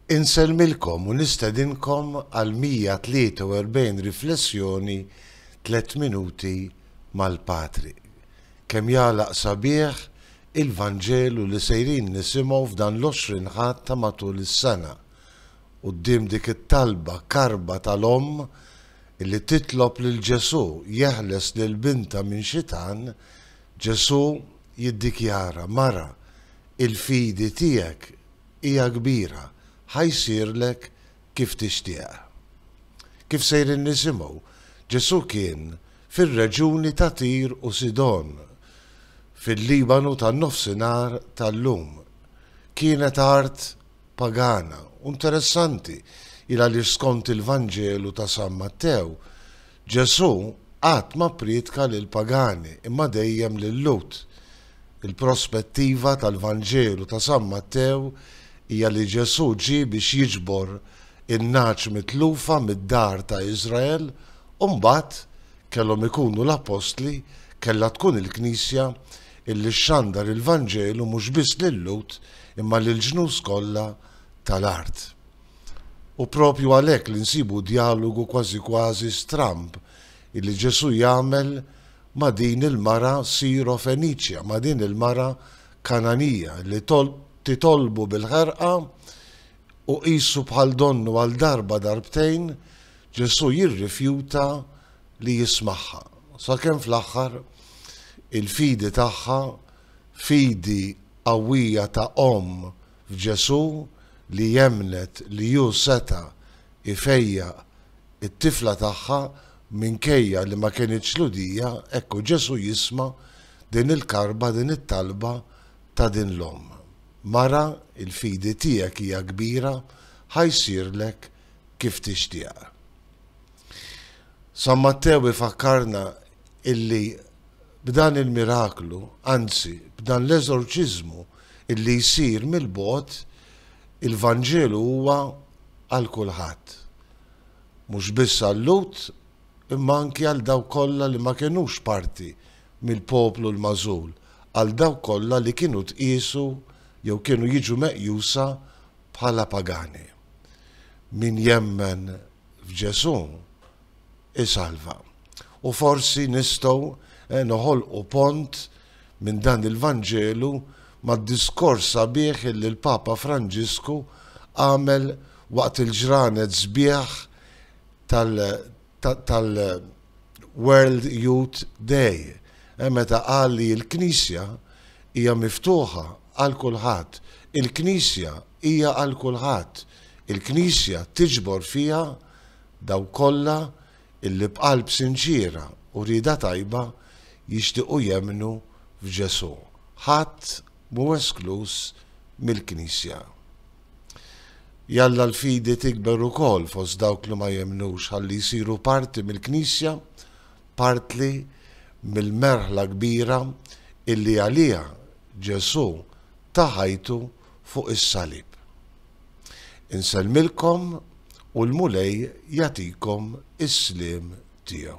Insellmilkom u nistedinkom għal 143 riflessjoni Tliet Minuti mal-Patri. Kemm jagħlaq sabiħ il-Vanġelu li sejrin nisimgħu f'dan l-Għoxrin Ħadd ta' matul is-sena, quddiem dik it-talba karba tal-omm li titlob lil Ġesù jeħles lil bintha minn xitan, Ġesù jiddikjara, Mara, Il-fidi tiegħek hija kbira, ħa jsirlek kif tixtieq. Kif sejrin nisimgħu, Ġesù kien fir-reġjuni ta' Tir u Sidon, fil-Libanu tan-Nofsinhar tal-lum. Kienet art pagana, u interessanti il-għaliex skont il-Vanġelu ta' San Mattew, Ġesù qatt ma pprietka lill-pagani imma dejjem lil-Lhud. Il-prospettiva tal-Vanġelu ta' San Mattew hija li Ġesù ġie biex jiġbor in-nagħaġ mitlufa mid-dar ta' Iżrael u mbagħad kellhom ikunu l-Appostli, kellha tkun il-Knisja illi xxandar il-Vanġelu mhux biss lil-Lhud imma lill-ġnus kollha tal-art. Hu proprju għalhekk li nsibu djalogu kważi kważi stramb illi Ġesù jagħmel ma' din il-mara Sirofeniċja, ma' din il-mara Kananija li titolbu bil-ħerqa u qisu bħal donnu għal darba darbtejn Ġesù jirrifjuta li jismagħha. Sakemm fl-aħħar il-fidi tagħha, fidi qawwija ta' omm f'Ġesù li emmnet li hu seta' jfejjaq it-tifla tagħha minkejja li ma kinitx Lhudija, hekk u Ġesù jisma' din il-karba, din it-talba ta' din l-omm, Mara, il-fidi tiegħek hija kbira, ħa jsirlek kif tixtieq. San Mattew ifakkarna illi b'dan il-miraklu, anzi b'dan l-eżorċiżmu illi jsir mill-bogħod, il-Vanġelu huwa għal kulħadd. Mhux biss għal-Lhud imma anki għal dawk kollha li ma kenux parti mill-poplu l-magħżul, għal dawk kollha li kienu tqiesu jew kienu jiġu meqjusa bħala pagani. Min jemmen f'Ġesù, isalva. U forsi nistgħu noħolqu pont minn dan il-Vanġelu mad-diskors sabiħ illi l-Papa Franġisku għamel waqt il-ġranet sbieħ tal-World Youth Day, meta qal li l-Knisja hija miftuħa għal kulħadd. Il-Knisja hija għal kulħadd. Il-Knisja tiġbor fiha Dawk kollha illi b'qalb sinċiera u rieda tajba jixtiequ jemmnu f'Ġesù, ħadd mhu eskluż mill-Knisja. Jalla l-fidi tikber ukoll fost dawk li ma jemmnux ħalli jsiru parti mill-Knisja, partli mill-merħla kbira illi għaliha Ġesù ta ħajtu fuq is-salib. Insellmilkom u l-Mulej jagħtikom is-sliem tiegħu.